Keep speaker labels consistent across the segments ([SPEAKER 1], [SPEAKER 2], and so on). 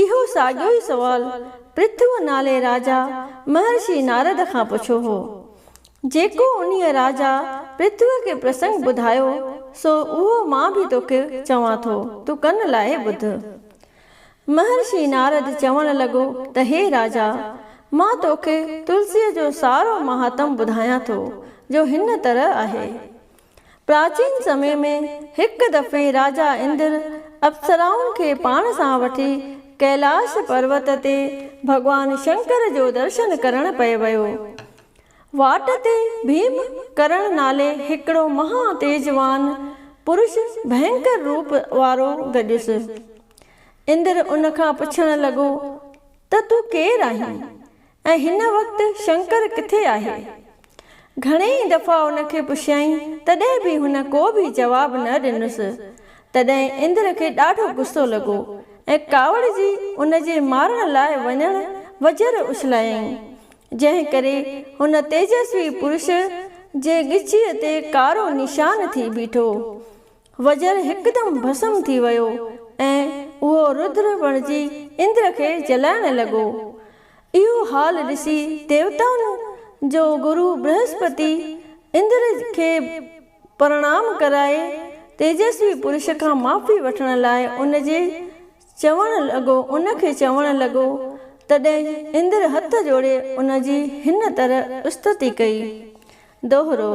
[SPEAKER 1] اهو ساڳيو ئي سوال پرٿوء نالي راجا مهرشي نارد کان پڇيو هو. جيڪو انهيء راجا پرٿوء کي پرسنگ ٻڌايو، سو اهو مان به توکي چوان ٿو، تون ڪن لائي ٻڌ. مهرشي نارد چوڻ لڳو ته هي راجا! مان توکي تلسيء جو سارو مهاتم ٻڌايان ٿو، جو هن طرح آهي. پراچين سمي ۾ هڪ دفعي راجا اندر اپسرائن کي پاڻ سان وٺي ڪيلاش پروت تي ڀڳوان شنڪر جو درشن ڪرڻ پئي ويو. واٽ تي ڀيم ڪرڻ نالي هڪڙو مها تيجوان پرش ڀينڪر روپ وارو گڏيس. اندر ان کان پڇڻ لڳو ته تون ڪير آهين؟ ۽ هن وقت شنڪر ڪٿي آهي؟ گهڻي ئي دفعا ان کي پڇيائين تڏهن به هن ڪو به جواب نه ڏنس. تڏهن اندر کي ڏاڍو غصو لڳو ۽ ڪاوڙجي ان جي مارڻ لاء وڃڻ وجهر اڇلايائين. جنهن ڪري هن تيجسوي پرش جي ڳچيء تي ڪارو نشان ٿي بيٺو. وزر هڪدم ڀسم ٿي ويو ۽ اهو رودر بڻجي اندر کي جلائڻ لڳو. اهو حال ڏسي ديوتائن جو گرو برهسپتي اندر کي پرڻام ڪرائي تيجسوي پرش کان معافي وٺڻ لاء ان جي چوڻ لڳو ان کي چوڻ لڳو تڏهن اندر هٿ جوڙي ان جي هن طرح استتي ڪئي. دوهرو.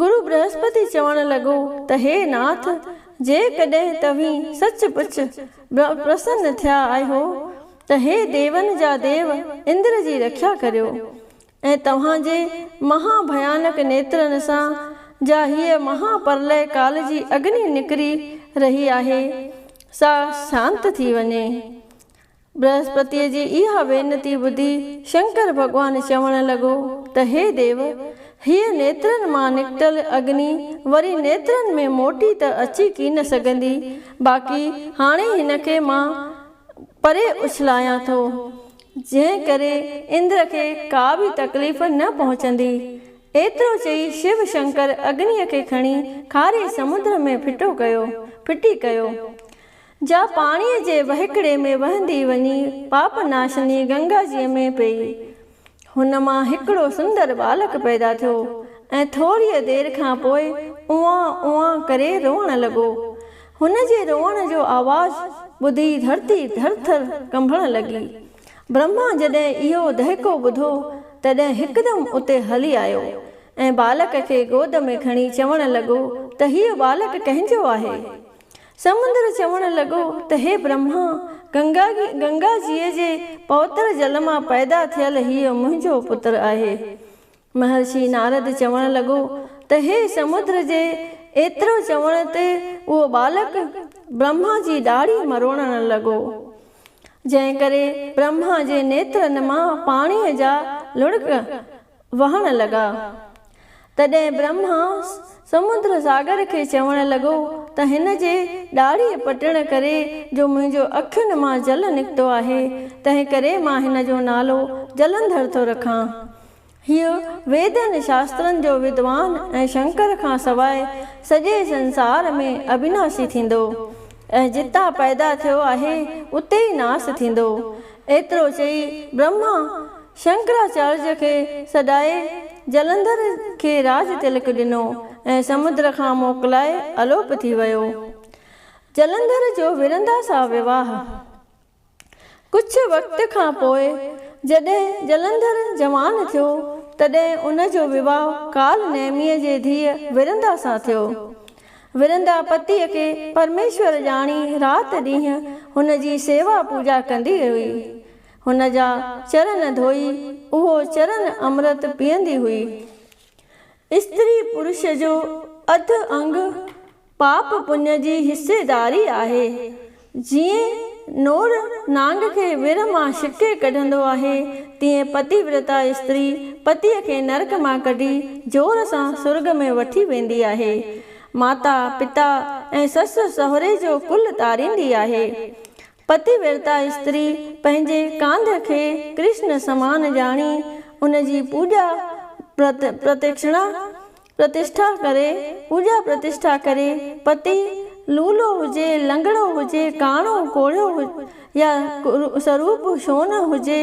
[SPEAKER 1] گرو برهسپتي چوڻ لڳو ته هي ناٿ، جيڪڏهن توهين سچ پچ پرسن ٿيا آهيو ته هي ديون جا ديو اندر جي رکيا ڪريو ۽ توهان جي مها ڀيانڪ نيترن سان جا هيء مها پرلئه ڪال جي اگني نڪري رهي آهي، سا شانت ٿي وڃي. برهسپتيء جي اها وينتي ٻڌي شنڪر ڀڳوان چوڻ لڳو ته هي ديو! هيء نيترن مان نڪتل اگني وري نيترن ۾ موٽي ته اچي ڪين سگهندي، باقي هاڻي هن کي مان پري اڇلايان ٿو، جنهن ڪري اندر کي ڪا به تڪليف نه پهچندي. ايترو چئي شو شنڪر اگنيء کي کڻي کاري سمنڊ ۾ ڦٽو ڪيو، ڦٽي ڪيو. جا پاڻيء جي وهڪري ۾ وهندي وڃي پاپ ناشني گنگا جيء ۾ پيئي. هن مان هڪڙو سندر ٻالڪ پيدا ٿيو ۽ ٿوريء دير کان پوء اوئان اوئان ڪري روئڻ لڳو. هن جي روئڻ جو آواز ٻڌي ڌرتي ٿر ٿر ڪنبڻ لڳي. برهما جڏهن اهو دهڪو ٻڌو تڏهن هڪدم اتي هلي آيو ۽ ٻالڪ کي گود ۾ کڻي چوڻ لڳو ته هيء ٻالڪ ڪنهن جو آهي؟ سمندر چوڻ لڳو ته هي برهما، گنگا گنگا جيء جي پوتر جل مان پيدا ٿيل هيء منهنجو پتر آهي. مهرشي نارد چوڻ لڳو ته هي سمندر جي ايترو چوڻ تي اهو ٻالڪ برهما جي ڏاڙهي مروڙڻ لڳو. جنهن ڪري برهما جي نيترن مان پاڻيء جا لڙڪ وهڻ لڳا. تڏهن برهما سمنڊ ساگر کي چوڻ لڳو ته هن جي ڏاڙهيء پٽڻ ڪري جو منهنجو اکين مان جل نڪتو آهي، تنهنڪري مان هن جو نالو جلنڌر ٿو رکان. هيء ويدن شاسترن جو ودوان ۽ شنڪر کان سواء سڄي سنسار ۾ اڀناسي ٿيندو ۽ جتان پيدا ٿيو آهي اتي ئي ناس ٿيندو. ايترو چئي برهما شنڪراچارج کي سڏائي جلنڌر کي راج تلڪ ڏنو ۽ سمنڊ کان موڪلائي الوپ ٿي ويو. جلنڌر جو ورندا سان وواهه. ڪجهه وقت کان پوء جڏهن جلنڌر جوان ٿيو تڏهن ان جو وواهه ڪال نيميء جي ڌيء ورندا سان ٿيو. ورندا پتيء کي پرميشور ڄاڻي رات ڏينهن هن جي سيوا پوڄا ڪندي هئي. هن جا چرن ڌوئي اهو چرن امرت پيئندي هئي. استري پرش جو اڌ انگ پاپ پڃ جي حصيداري آهي. جيئن نور نانگ کي ور مان ڇڪي ڪڍندو آهي، تيئن پتي ورتا استري پتيء کي نرڪ مان ڪڍي زور سان سرڳ ۾ وٺي ويندي آهي. ماتا، پتا ۽ سس سهري جو ڪل تاريندي آهي. پتي ورتا استري پنهنجي ڪانڌ کي ڪرشن سمان ڄاڻي ان جي پوڄا پرتڪشڻا، پرتشٺا، ڪري، پوڄا پرتشٺا ڪري، پتي لولو هجي، لنگڙو هجي، ڪاڻو، ڪوڙهيو يا سروپ شون هجي،